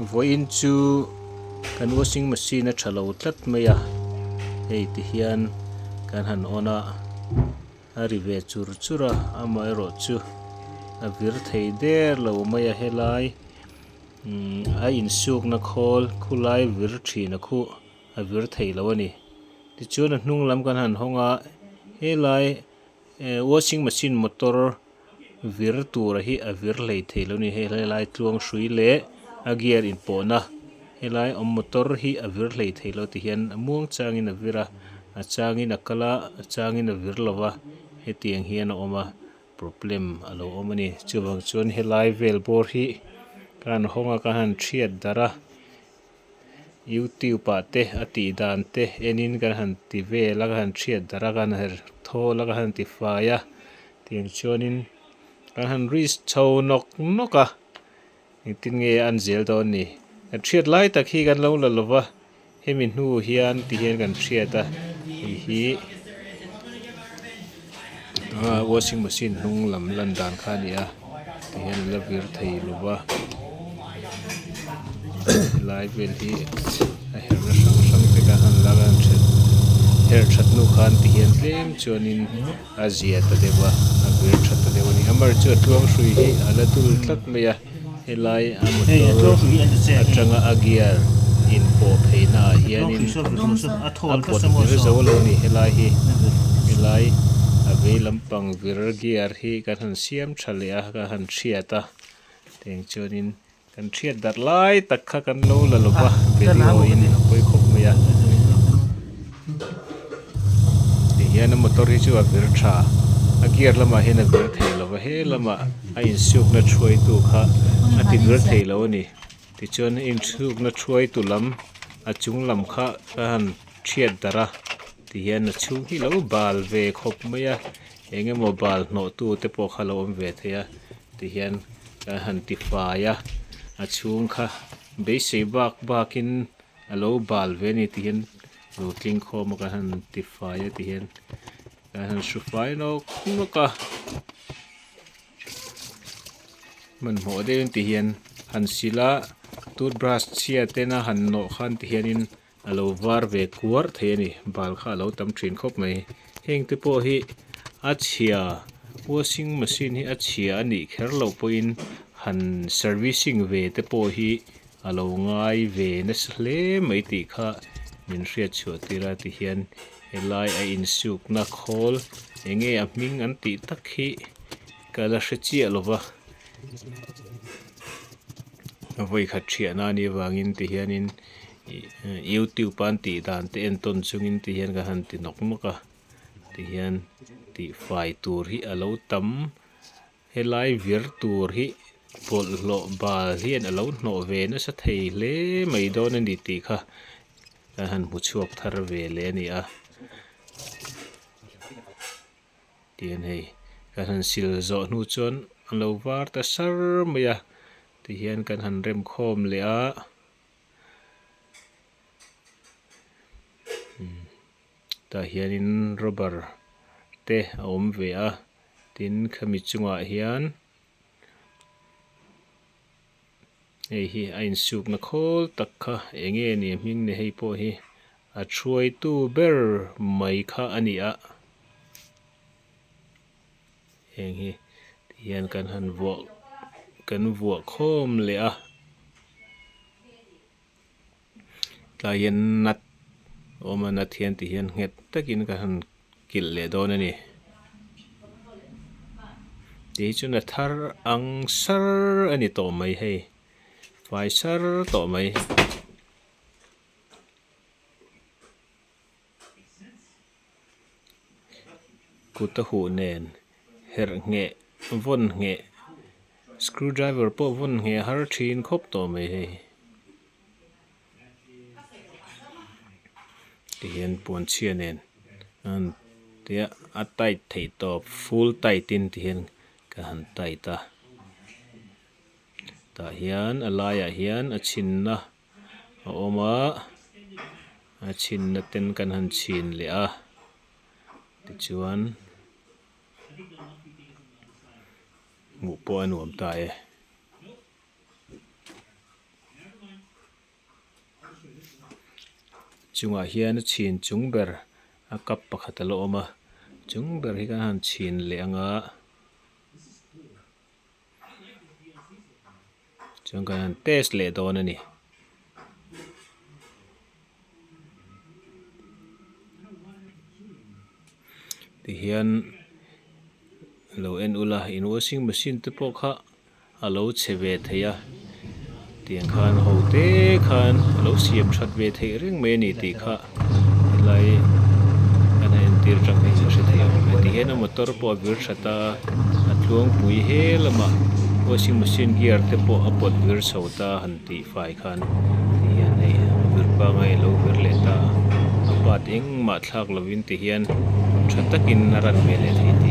Vawiin chu kan washing machine a tha lo tlat mai a, hei ti hian kan han on a, a ri ve chur chur a, amaherawh chu a vir thei der lo mai a helai a insukna khawl khulai vir thin a khuh a vir thei lo a ni. Tichuan a hnung lam kan han hawng a, helai E washing machine motor vir tura hi a vir hlei thei lo ni hei helai tluang hrui leh a gear in pawhna helai awm motor hi a vir hlei thei lo ti hian a muang changin a vir a a changin a kal a a changin a vir lo va hetiang hian a awm a problem a lo awm a ni chuvang chuan helai vel bawr hi ka han hawng a ka han hriat darh a. Youtube ah te a tih dan te enin kan han ti vel a, kan han hriat darh a, kan han her thawl a, kan han ti fai a, tiang chuanin kan han reach chho nawk nawk a, engtin nge an zel dawn ni? Kan hriat lai tak hi kan lo la lo va, hemi hnu hian ti hian kan hriat a, hei hi. Aa, washing machine hnung lam lan dan kha a ni a, ti hian an la vir thei lo va, helai vel hi a herh na hrang hrang vek a, an la lan ṭhat, herh ṭhat nu khan ti hian tlem chuanin a zia ta deuh a, a vir ṭhat ta deuh a ni. Amahersua tluang hrui hi a la dul tlat mai a. Helai a motor atanga a gear inpawh pheina ah hianin a pawt vir zo lo ni helai hi. Helai a vei lampang vir gear hi kan han siam tha leh a, kan han hriat a, tiang chuanin kan hriat darh lai tak kha kan lo la lova video in a pawi khawp mai a. Ti hian a motor hi chu a vir tha. A gear lamah hian a vir thei lo va, he lama a insukna thuaitu kha a ti vir thei lo a ni. Tichuan a insukna thuaitu lam a chung lam kha ka han thiat darh a, ti hian a chhung hi lo bal ve khawp mai a, eng emaw bal hnawhtu te pawh kha lo awm ve thei a, ti hian ka han ti fai a. A chhung kha beisei bak bakin A lo bal ve ni tih hian lo tling khawm a kan han tifai a tih hian kan han hru fai lawk lawk a. Hmanhmawh deuh in tih hian han sil a, tooth brush chhia ten a han nawh khan tih hian in a lo var ve kuar thei a ni. Bal kha a lo tam thin khawp mai. Heng te pawh hi a chhia washing machine hi a chhia a nih kher loh pawh in han servicing ve te pawh hi A lo ngai ve nasa hle mai tih kha min hriatchhuah tir a ti hian helai a insukna khawl enge a hming an tih tak hi ka la hre chiah lo va, a vawikhat hriah nan i avangin ti hianin youtube a an tih dan te en tawn chungin ti hian kan han ti nawk nawk a ti hian tihfai tur hi a lo tam. Helai vir tur hi bawlhhlawh bal hian a lo hnawh ve nasa thei hle mai dawn a ni tih kha kan han hmu chhuak thar ve leh a ni a. Tihian hei kan han sil zawh hnu chuan an lo var ta sar mai a tihian kan han rem khawm leh a. Tah hianin rubber te a awm ve a, tin khami chungah hian hei hi a insukna khawl tak kha eng nge ni hming ni hei pawh hi a thuaitu ber mai kha a ni a, heng hi tih hian kan han vuah kan vuah khawm leh a. Tlai hian Nath a awm a, Nath hian ti hian nghet takin ka han kilh leh dawn a ni. Ti hi chu na thar ang sar a ni tawh mai hei, fai sar tawh mai. Kut a huh nen herh ngheh vawn ngheh screw driver pawh vawn ngheh har thin khawp tawh mai hei. Ti hian puan chhia nen a han tia a tight theih tawp full tight in ti hian ka han tight a. Tah hian a laiah hian a chhinna. a awm a, a chhinna ten kan han chhin leh a, tichuan hmuh pawh a nuam ta e. Chungah hian a chhin chung ber a cup pakhat a la awm a, chung ber hi kan han chhin leh ang a. Chuan kan han test leh dawn a ni. Tihian a lo en ula in washing machine te pawh kha a lo chhe ve thei a, tiang khan ho te khan a lo siam that ve theih reng mai a ni tih kha. helai kan han entir tang hian ka hre thei ang emaw ti hian a motor pawh a vir that a a tluangpui hel a mah washing machine gear te pawh a pawt vir chho ta han tih fai khan ti hian hei vur panga i lo vir leh ta a part engmah thlak lovin ti hian tha takin a ran hmel leh thei tih--